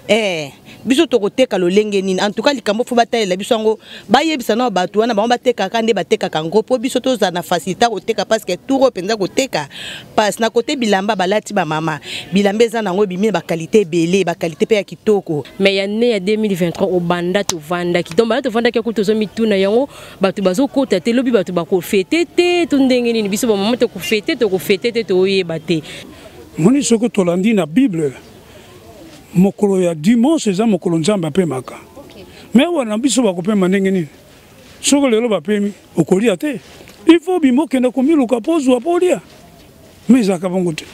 eh biso tokoteka lolenge nini en tout cas likambo fo batalela biso yango bayebisa nao bato wana bango batekaka nde batekaka yango mpo biso tozala na facilité koteka parce que tour oyo mpenza koteka parce na kote bilamba balati bamama bilamba eza na yango ebimi na bakalite ebele bakalite mpe ya kitoko mais ya ne ya 2023 obanda tovandaki donc banda tovandaki akuti tozomituna yango bato bazokota te lobi bato bakofete te to ndenge nini biso bamama tokofete tokofete te toyeba te moni soki tolandi na bible mokolo ya dimanche eza mokolo nzambe apemaka me wana biso bakopema ndenge nini soki lelo bapemi okolia te il faut bima okende komiluka mpo ozwa mpo olia me ezalaka bongo te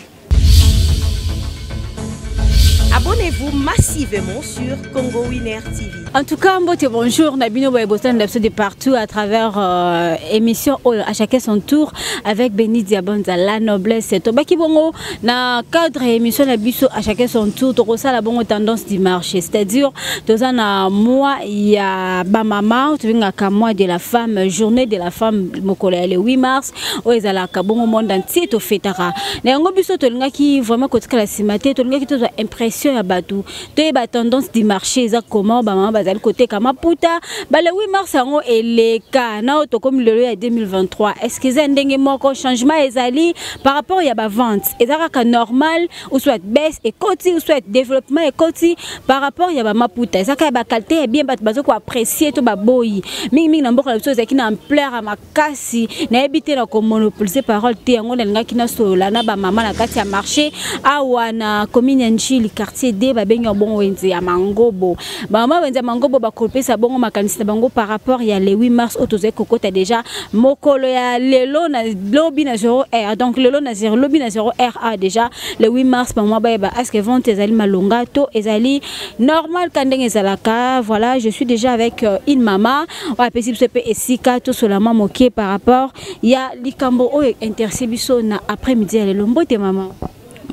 Abonnez-vous massivement sur Congo Winner TV. En tout cas, mbote bonjour, Nabino Boyebotan de partout à travers euh, émission Oyo à chacun son tour avec Béni Diabonza, la noblesse. Tobaki bongo, na cadre ya émission na biso à chacun son tour tokosala bongo tendance du marché c'est-à-dire toza na mois ya bamama tobengaka mois de la femme journée de la femme mokolo ya le 8 mars oyo ezalaka bongo monde entier tofetaka na yango biso tolingaki vraiment kotikala nsima te tolingaki tozwa impression ya bato toyeba tendance du marché eza comment bamama bazali koteka maputa bale 8 mars yango eleka na oyo tokomi lelo ya 2023 est-ce que eza ndenge moko changement ezali par rapport ya bavente eza kaka normal ou soit baisse ekoti ou soit développement ekoti par rapport ya bamaputa eza kaka ya bakalite ya bien bato bazokoapprécie to baboyi mingimingi na mboka na biso ezalaki na ampleur makasi nayebi te na komonopolise parole te yango nalingaki nasolola na bamama na kati ya marché awa na commune ya njili quartier d babengi bongo wenze ya mangobo bamama wenze ya mangobo bakopesa bongo makanisi na bango par rapport ya le 8 mars oyo tozali kokota deja mokolo ya lelo na lobi na 0 r donc lelo na 0 lobi na 0 ra deja le 8 mars bamama bayeba aske vente ezali malonga to ezali normal ka ndenge ezalaka voilà je suis déjà avec euh, une mama oyo apesi biso mpe esika tosolama moke par rapport ya likambo oyo interesse biso na après midi ya lelo mbote mama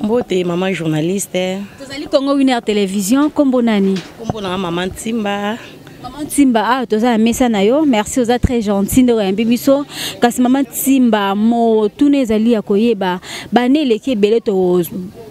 mbote mama journaliste tozali congo winer télévision nkombo nani nkombo nanga mama ntimba Maman Timba, ah, toza na mesa na yo. Merci, oza très gentil ndeko ya biso. Kasi maman Timba, mo tuna ezali ya koyeba. Ba ne leki ebele to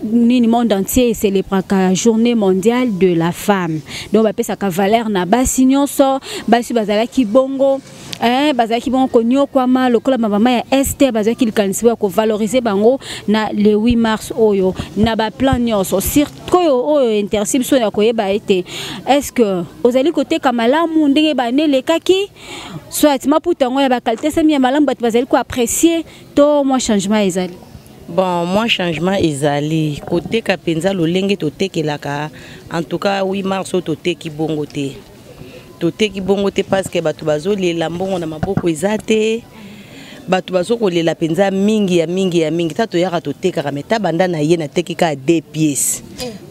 nini monde entier célébraka journée mondiale de la femme. Donc ba pesa ka valeur na basi nyonso, basi bazalaki bongo. eh, bazalaki bongo konyokwama lokola bamama ya este bazalaki likanisi ya kovalorize bango na le 8 mars oyo na baplan nyonso sikoyo oyo interesi biso ya koyeba ete estce ozali koteka malamu ndenge bane elekaki soit maputa yango ya bakalite sami ya malamu bato bazali koapprécie to mwa changement ezali bon mwa changement ezali koteka mpenza lolenge totekelaka en tout cas 8 mars oyo toteki bongo te toteki bongo te paske bato bazolela mbongo na maboko eza te bato bazokolela mpenza mingi ya mingi ya mingi ta toyaka totekaka mai ta banda na ye nateki kaka de pièce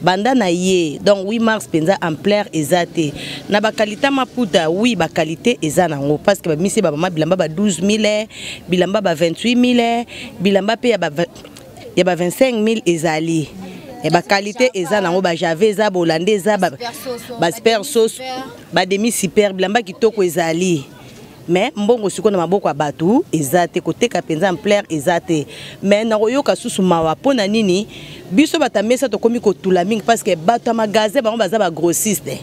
banda na ye donc 8 mars mpenza ampleur eza te na bakalite maputa wi bakalite eza na yango parce que bamisi bamama bilamba ba 12 000 bilamba ba 28 000 bilamba mpe ya ba ya ba 25000 ezali e eh, bakalite eza nango bajave eza bolande eza basper sos bademi super bilamba kitoko ezali me mbongo sikoyo na maboko ya bato eza te koteka mpenza ampleur eza te me nakoyoka susu mawa mpo na nini biso bato ya mesa tokómi kotula mingi parce que bato ya magasin bango baza bagrossiste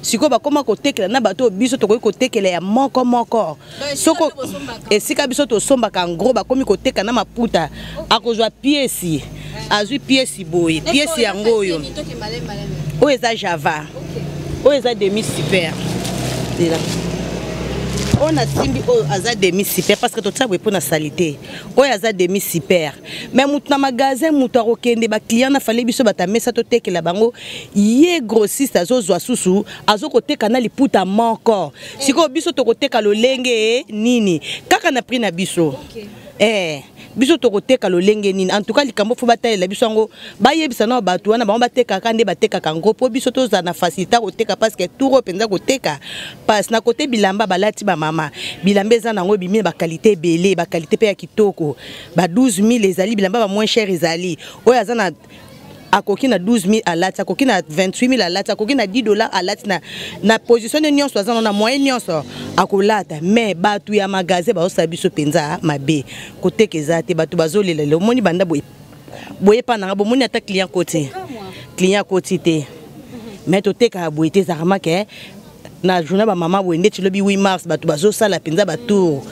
sikoyo bakóma kotekela na bato oyo biso tokoki kotekela ya moko moko soko esika biso tosombaka ngro bakomi koteka na maputa akozwa piesi azwi piesi boye piesi yango oyo oyo eza java oyo eza demi super lela oyo nasimbi oyo aza demi super parce que totia boye mpo na salite oyo aza demi super mais moto na magasin moto akokende baclient na fale biso bato ya mesa totekela bango ye grossiste azozwa susu azokoteka na liputa moko sikoyo biso tokoteka lolenge nini kaka na prix na biso okay. eh biso tokoteka lolenge nini en tout cas likambo fo batalela biso yango bayebisa na bato wana bango batekaka nde batekaka yango mpo biso tozala na facilité koteka parce que tour oyo mpenza koteka parce na kote bilamba balati bamama bilamba eza na yango ebimi na bakalite ebele bakalite mpe ya kitoko ba 12 000 ezali bilamba ba moins cher ezali oyo aza na akoki na 12000 alati akoki na 28000 alati akoki na 10 dollars alati na, na position ne nyonso aza na moyen nyonso akolata mais bato ya magasin baosala biso mpenza mabe koteka eza te bato bazolela lelo omoni banda boye boye epa nanga bomoni ata client koti client koti te mais totekaka boye te ezalaka make na journal ba mama boye ndeti lobi 8 mars bato bazosala mpenza batour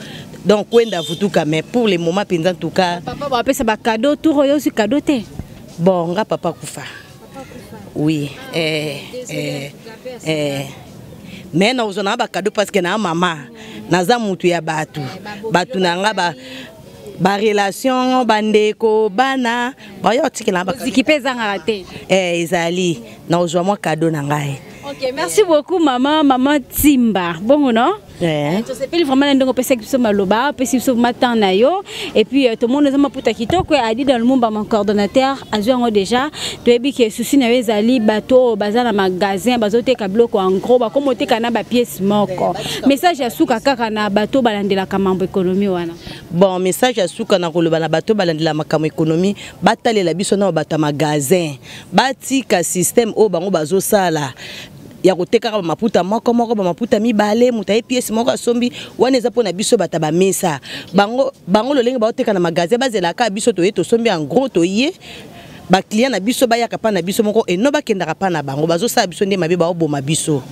donc kwenda vutuka mais pour le moment mpenza en tout cas papa bapesa bacado tour oyo ozwi cado te bon nga papa kufa oui eh, eh, eh. mais nakozwa nanga bacado parce que naa mama naza motu ya bato bato na nga ba barelation bandeko bana bayo otikela baziki mpe ezangaka te eh, ezali nakozwa mwa kado na ngai Ok, merci beaucoup maman, maman Timba. Bongo non Yeah. tosepeli vraiment na ndenge opesaki biso maloba opesi biso vraiment temps na yo et puis euh, tomoni oza maputa kitoko ya adi dans lumumba mon coordonnateur azwi yango déjà toyebi ke susi na yo ezali bato oyo baza na magasin bazoteka biloko en gros bakoma oteka na bapiece moko message ya suka kaka na bato balandelaka mambo ekonomi wana bon message ya suka na koloba na bato balandela makambo ekonomi batalela biso na bato ya magasin batika système oyo bango bazosala ya kotekaka bamaputa moko moko bamaputa mibale moto aye piese moko asombi wana eza mpo na biso bato bamesa bango, bango lolenge baoteka na magasin bazelaka biso toye tosombi en gros toye baclient na biso bayaka mpa na biso moko eno bakendaka mpa na bango bazosala biso nde mabe baoboma biso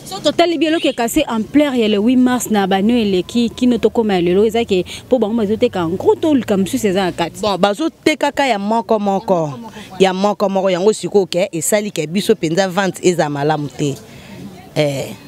so totali bi eloko ekase ampleur ya le 8 mars na bano eleki kino tokóma ya lelo eza ke mpo bango bazoteka en gros toluka mosusu eza na kati bon bazotekaka ya moko moko ya moko moko yango sikoyo ke esali ke biso mpenza vente ezala malamu te eh.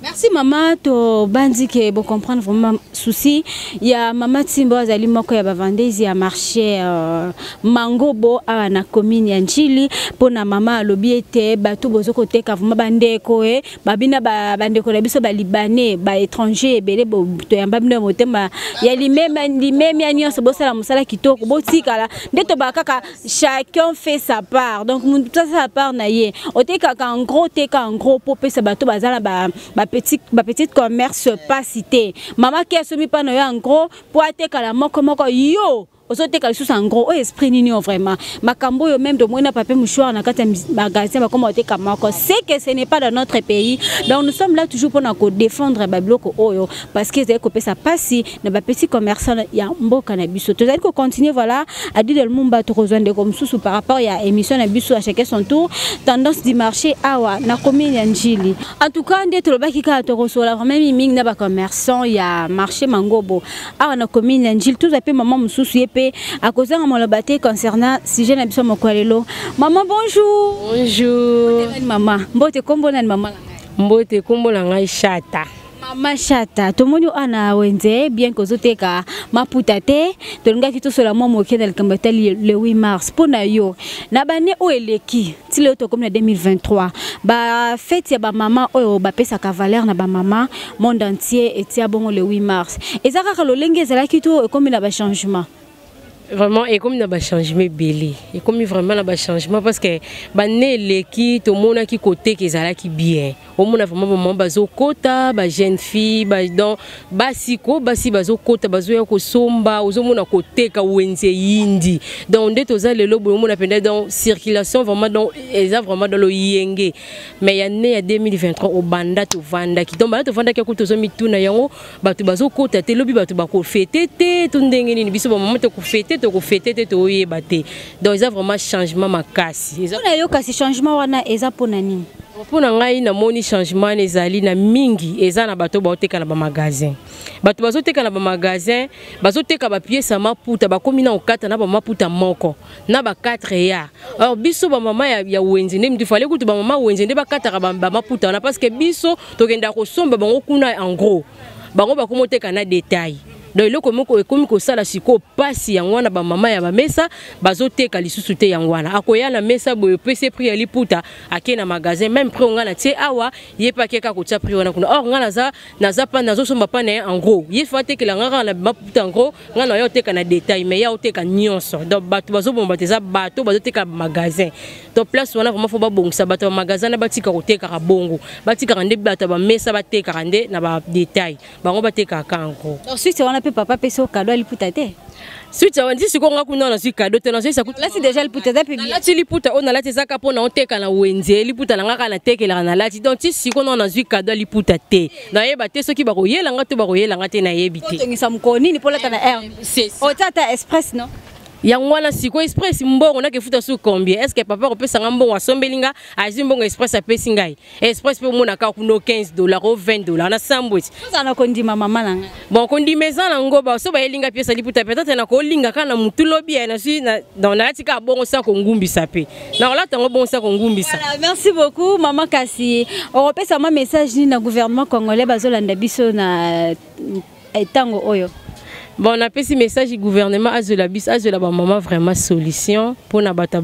merci mama tobanzi ke bocomprendre vraiment souci ya mama timbo azali moko ya bavandesi ya marché uh, mangobo awa na commune ya njili mpo na mama alobi ete bato bozo koteka vraiment bandeko e babina bandeko na biso balibanais baétranger ebele toyamba bino ya motema ya limemia nyonso bosala mosala kitoko botikala nde tobaa kaka chacun fait sa part donc mutu ça sa part na ye otekaka en gros teka en gros mpo opesa bato baza na bapetite ba ba commerce pasi te mama ke asomi mpa na yo en gros mpo atekala moko moko yo ozoteka lisusu en gros oyo esprit nini oyo vraiment makambo oyo meme tomoni na pape mouchoir na kati ya magasin bakoma oteka moko c'est que ce n'est pas dans notre pays donc nous sommes là toujours mpona kodefendre babiloko oyo parce que ezali kopesa mpasi na ba petits commerçants ya mboka na biso tozali ko continuer voilà à dire le mumba tokozwa ndeko mosusu par rapport ya émission na biso à chacun son tour tendance du marché awa na commune ya Njili en tout cas nde tolobaki kaka tokosola vraiment mingi na ba commerçants ya marché Mangobo awa na commune ya Njili tozwa pe maman mosusu ye pe akozanga maloba te concernant sujet na biso moko lelo maman bonjour bonjour maman mbote kombo na maman mbote kombo na ngai chata mama shata tomoni oyo ana wenze bien kozoteka maputa te tolingaki tosola mwa moke na likambo etali le 8 mars mpo na yo na bane oyo eleki ti lelo tokomi na 2023 bafeti ya bamama oyo bapesaka valeur na bamama monde entier etia bongo le 8 mars eza kaka lolenge ezalaki to ekomi na bachangement vraiment ekomi na bachangement ebele ekomi vraiment na bachangement parce que bane eleki tomonaki koteka ezalaki bien omona vraiment bamama bazokota bajeune fille badon basi ko basi bazokota bazoya kosomba ozomona koteka wenze yindi donc nde toza lelo boye omona mpenza donc circulation vraiment donc eza vraiment dans loyenge mais ya ne ya 2023 obanda tovandaki donc banda tovandaki akuti tozomituna yango bato bazokota te lobi bato bakofete te to ndenge nini biso bamama tokofete tokofete te toyeba te donc eza vraiment changement makasi mpona yo kasi changement wana eza mpona nini mpo na ngai namoni changement wana ezali na mingi eza na bato baoteka na bamagasin bato bazoteka na bamagasin bazoteka bapiese ya maputa bakomi na okata na bamaputa moko na ba 4 ya or biso ba mama ya, ya wenze nde mtu fale kutu ba mama wenze nde bakataka ba, ba maputa na parce que biso tokenda kosomba bango kuna en gros bango bakomoteka na detail donc eloko moko ekomi kosala sikoyo mpasi yango wana bamama ya bamesa bazoteka lisusu te yango wana akoya na mesa boye opesi prix ya liputa ake na magasin meme prix onga na tie awa ye mpe akeka kotia prix wana kuna or ngai naza naza pa nazo somba pa na ye en gros ye fa tekela nga kaka na baputa en gros nga na yo oteka na détail mais ya oteka nyonso donc bato bazoboma bato eza bato bazoteka magasin donc place wana vraiment fo babongisa bato ya magasin na batika kotekaka bongo batikaka nde bato ya bamesa batekaka nde na badétail bango batekaka en gros suite wana mpe papa apesi yo kado aliputa te suite ya wandi sikoyo nga kuna nazwi kado te nazwisa kutlati deja liputa eza mpe nalati liputa oyo nalati eza kaka mpo na oteka na wenze liputa na nga kaka natekelaka nalati donc ti sikoyo nao nazwi kado ya liputa te nayeba te soki bakoyela nga to bakoyela nga te nayebi te otongisa mokolo nini mpo olata na air otya ata express non yango wana siko express mbongo nakefuta su combien est ce que papa akopesa nga mbongo asombeli nga azwi mbongo express apesi ngai express mpe omonaka kuna 15 dollar o 20 dollar na sambweti ozala na kondima mama na ngai bon kondima eza na ngo baso bayeli ngai piesa liputa peut-être nakolinga kaka na motu lobi ya nazwi donc nalati kaka bongo sa kongumbisa mpe nakolata yango bongo sa kongumbisa merci beaucoup mama kasi okopesa mwa message nini na gouvernement congolais bazolanda biso na eh, tango oyo bon napesi message du gouvernement azwela biso azwela bamama vraiment solution mpo na bato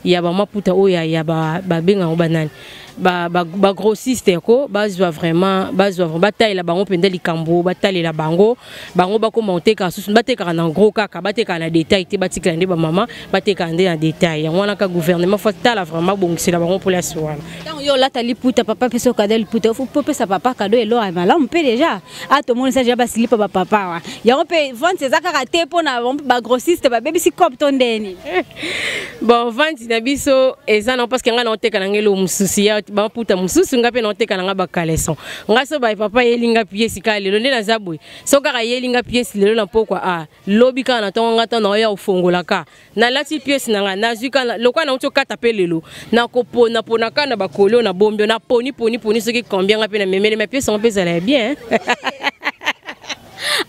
ya bamaputa oyo ya babenga yango banani bagrossiste ba, ba ko bazwa vraiment bazwa vraiment batalela bango mpenza likambo batalela bango bango bakoma kotekaka susu batekaka na gros kaka batekaka na detail te batikela nde bamama batekaka nde na detail yango wana ka gouvernement fo tala vraiment abongisela bango mpoliasi wana ntango yo olata liputa papa mpe soki ada liputa fo popesa papa kado eloko ya malamu mpe deja a tomonisa deja basilipa bapapa wa yango mpe vente eza kaka te mpo na bagrossiste babebisi cope to ndeni bon vente na biso eza nango parceke ngai naoteka na ngai eloo mosusu ya baputa mosusu ngai mpe naoteka na ngai bacaleson ngai so baye papa yeli ngai piesi kaka lelo nde naza boye so kaka yeli ngai piesi lelo na mpokwa a ah, lobi kaka na ntongo ngai ntango naoya ofongolaka nalati piese na ngai nazwi kaka lokola nauti okata mpe lelo nakopona pona kaka na bakoli oyo nabombi oyo naponi poni poni soki combien ngai mpe namemeli ma piese yango mpe ezala ya bien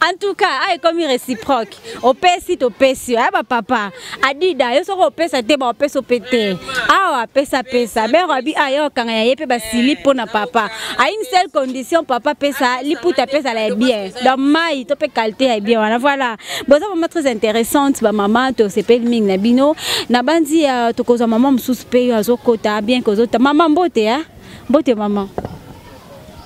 en tout cas aye komi réciproque opesi topesi yo ayeba papa adida yo soki opesa te baopesa ope te awa apesa pesa mère abi aye okanga ya ye mpe basili mpo na papa a une seule condition papa pesa liputa apesa la ya bien donc mai to mpe qualité ya bien wana voilà boza vraiment très intéressante ba maman to sepeli mingi na bino na banzi ya euh, tokozwa maman mosusu pe yo azokota bien kozota maman mbote hein mbote maman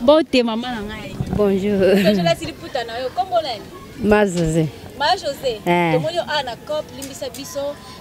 mbote maman na ngai bonjour ozolasi liputa na yo kombo nani ma josé ma josé eh. tomoni yo a na cop limbisa biso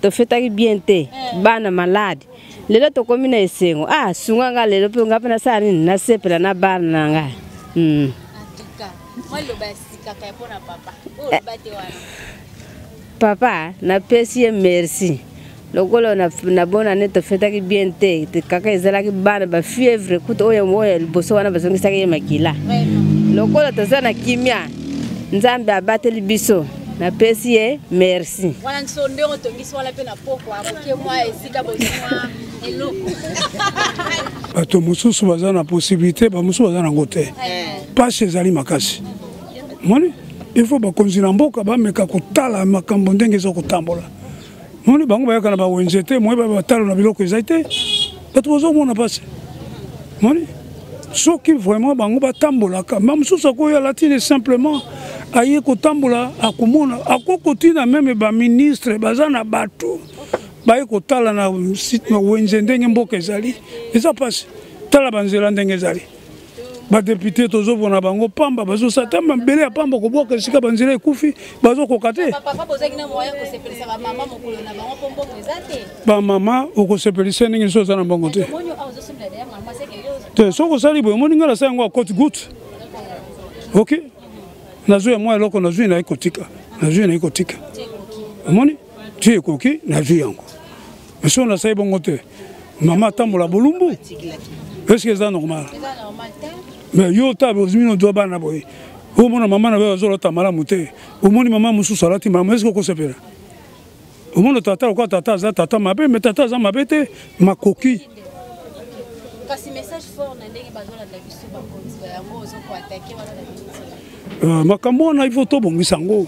tofetaki bien te eh. bana malade lelo tokomi na esengo ah sunga nga lelo mpe nga mpe nasala nini nasepela na bana na nga hmm. papa napesi ye merci lokola nabona ne tofetaki bien te kaka ezalaki bana bafievre kutu oyo oyo liboso wana bazongisaki ye makila lokola toza na kimia nzambe abateli biso napesi ye merci wana nso ndenge otongisi wana mpe na pokwa moke mwa esika bozimwa eloko bato mosusu baza na possibilité bamosusu baza nango te mpasi eh. ezali makasi moni il faut bakonzi na mboka bameka kotala makambo ndenge eza kotambola moni bango bayaka na bawenze te moye batalo na biloko ezali te bato bazomona mpasi moni soki vraiment bango batambolaka ma mosusu akoya latine simplement aye kotambola akomona akoki kotina meme baministre baza na bato baye kotala na wenze ndenge mboka ezali eza mpasi tala banzela ndenge ezali badepute tozopona bango pamba bazosala ta mabele ya pamba kobwaka esika banzela ekufi bazokoka te bamama okosepelisa ndenge so oza na mbongo te te soki osali boye omoni ngai nasala yango ya cote gout ok nazwi ya mwa eloko nazwi naye kotika nazwi naye kotika omoni ti ekoki nazwi yango Monsieur na sai bongo te. Mama tambola bolumbu. Est-ce que eza normal? Mais yo ta bozmi no doba na boye. Au moins maman na ba zolo tamala mute. Au moins maman musu salati maman est-ce que ko sepela? Au moins tata ko tata za tata mabe mais tata za mabe te makoki. Kasi message fort na ndenge bazolanda biso bakonzi yango ozokoatake wana na Euh, makambo wana il faut tobongisa yango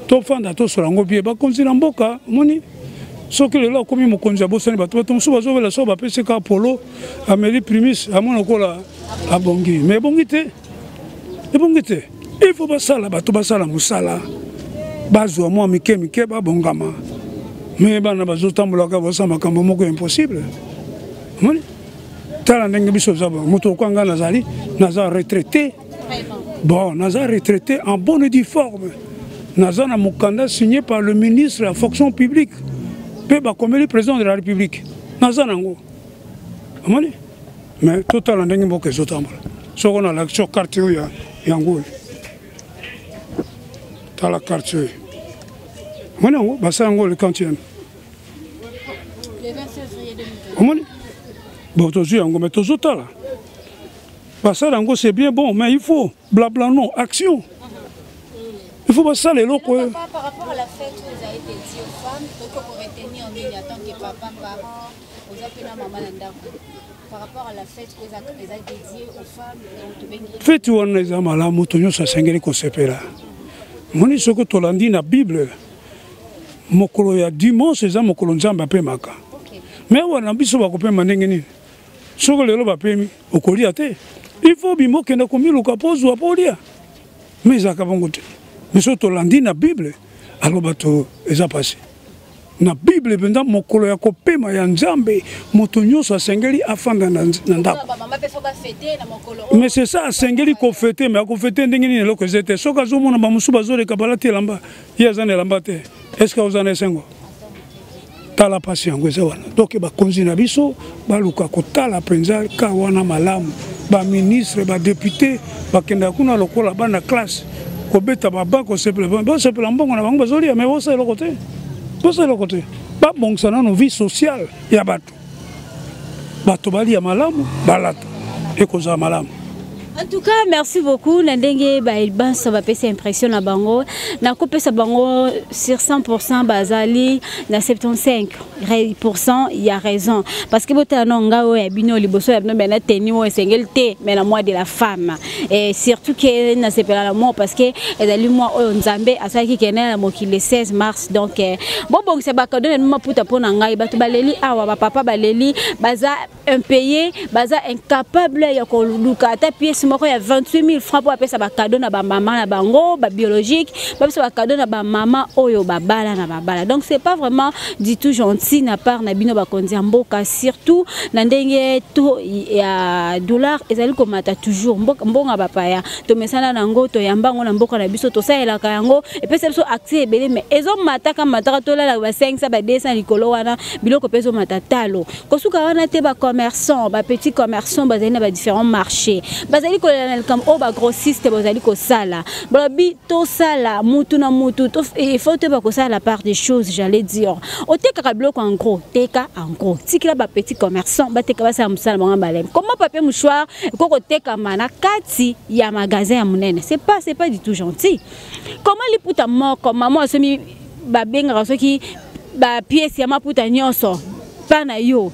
tofanda tosola yango bie bakonzi na mboka omoni soki lelo akomi mokonzi abosani bato bato mosusu bazobela so bapesi ka polo ameli primis amona lokola abongi mais ebongi te ebongi te il faut basala bato basala mosala bazwa mwa mike mike babongama me bana bazotambolaka basala makambo moko impossible moni tala ndenge biso moto okwa ngai nazali naza retraité bon naza retraité en bonne et due forme naza na mokanda signé par le ministre ya fonction publique mpe bakomeli président de la république naza nango omoni mais totala ndenge mboka ezotambola soko nalakisi yo karte oyo yango oyo tala karte oyo omoni yango basala yango le quantième omoni bo tozwi yango me tozotala basala yango c'est bien bon mais il faut blabla non action il faut basala eloko oyo feti wana eza malamu moto nyonso asengeli kosepela moni soki tolandi na bible mokolo ya dimanche eza mokolo nzambe apemaka me wana biso bakopema ndenge nini soki lelo bapemi okolia te il faut bima okenda komiluka mpo ozwa mpo olia ma ezalaka bongo te biso tolandi na bible alo bato eza pasi na bible mpenza mokolo ya kopema ya nzambe moto nyonso asengeli afanda na ndako mais c'est ça asengeli kofete mais akofete ndenge nini eloko eza te soki azomona bamosusu bazoleka balati elamba ye aza na elamba te est ce que aoza na esengo tala mpasi yango eza wana donk bakonzi na biso baluka kotala mpenza ka wana malamu baministre badepute bakendaka kuna lokola bana classe kobeta baba kosepela bosepela mbongo na bango bazolia me bosa eloko te bosa eloko te babongisa nano vie sociale ya bato bato balia malamu balata ekozala malamu En tout cas, merci beaucoup. Na ndenge ba Elbans ba pesa impression na bango. Na ko pesa bango sur 100% bazali na 75% il y a raison parce que botala no ngao ya bino liboso ya bino bana teni o esengel te mais la mois de la femme. et surtout que na sepela la mort parce que ezali moi oyo nzambe asalaki kende na mokili le 16 mars donc eh, bobongisa bakado na maputa mpo na ngai bato baleli awa bapapa baleli baza impayé baza incapable ya koluka ata pièce moko ya 28 000 francs mpo bapesa bakado na bamama na bango babiologique bapesa bakado na bamama oyo babala na babala donc c'est pas vraiment dit tout gentil na part na bino bakonzi ya mboka surtout na ndenge to ya dollar ezali komata toujours mboka mbonga bapaya tomesana na yango toyamba yango na mboka na biso tosalelaka yango epesa biso accès ebele mais ezomataka mataka tolala basengisa ba 200 likolo wana biloko mpe ezomata talo kosuka wana te ba commerçants ba petits commerçants bazali na ba différents marchés bazali kolela na likambo oyo ba grossiste bazali kosala balobi tosala mutu na mutu il faut toyeba kosala la part des choses j'allais dire otekaka biloko en gros teka en gros tikila ba petits commerçants bateka basala mosala bango baleme comment papier mouchoir ekoki kotekama na kati ya magasin ya monene c'est pas c'est pas du tout gentil comment liputa moko mama asomi babengaka soki bapiese ya maputa nyonso mpa na yo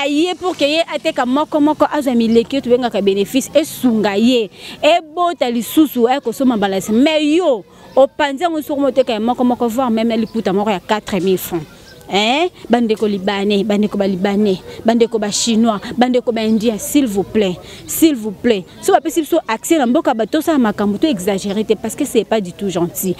aye pour ke ye ateka moko moko azwa mileki oyo tobengaka bénéfice esunga ye ebota lisusu aye kosomba mbala esi mais yo opanzi yango soko moteka ya moko moko voir meme liputa moko ya 4000 francs eh? bandeko libanais bandeko balibane bandeko bachinois bandeko baindien s'il vous plaît s'il vous plaît so bapesi biso accès na mboka bato tosala makambo to exagéré te parce que c'est pas du tout gentil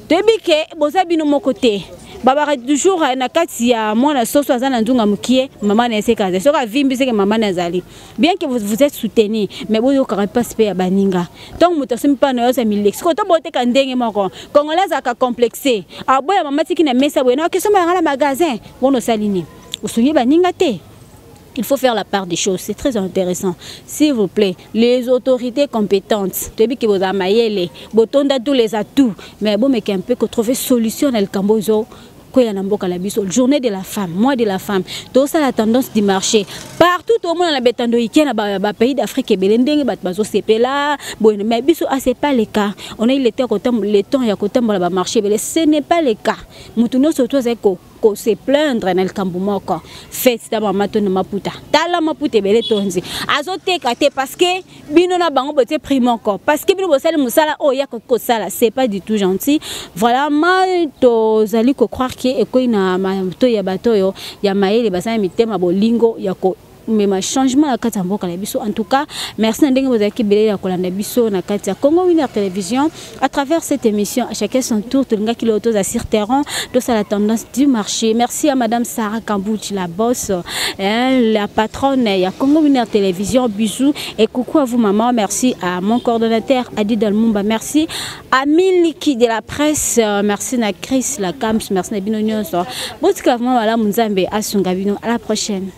toyebi ke boza bino moko te babaka toujours eh, na kati ya mwana soso aza na nzunga mokie mama na eseka azali soki avimbi seke mama na azali bien que vous êtes soutenu mais boyokaka mpasi mpe ya baninga ntango moto asombi mpa na yo azami leki sikoyo to boteka ndenge moko congolais azalaka complexe aboya mama tiki na mesa boye na okesomba yanga na magasin wana osali nini osungi baninga te Il faut faire la part des choses. C'est très intéressant. S'il vous plaît, les autorités compétentes, tu que vous avez botonda tous les atouts, mais bon, mais qu'un peu que trouver solution dans le Cambodge. koya na mboka na biso journée de la femme mois de la femme tosala tendance du marché partout tomona na betando ike na bapays d'afrique ebele ndenge bato bazosepela boye mais biso ase ah, pas le cas on a eu le temps ya kotambola bamarché ebele ce n'est pas le cas moto nyonso to azali ko se plaindre na likambo moko fete ta mama to na maputa tala maputa ebele tonzi azoteka te parce que bino na bango botie prix moko parce que bino bosali mosala oyo ya koki kosala c'est pas du tout gentil voilà ma tozali ko croire ke ekwei na mato ya bato oyo ya mayele baza na mitema bolingo ya ko mema changement na kati ya mboka na biso en tout cas merci na ndenge bozalaki ebele ya kolanda biso na kati ya congo winner télévision à travers cette émission à chacun son tour tolingaki lelo toza sur terrain tosala tendance du marché merci à madame sarah kambuchi la bosse hein, la patronne ya congo winner télévision bisous et coucou à vous maman merci à mon coordonnateur adi dalmumba merci à miliki de la presse euh, merci na chris la camps merci na bino nyonso botika vraiment malamu nzambe asunga bino à la prochaine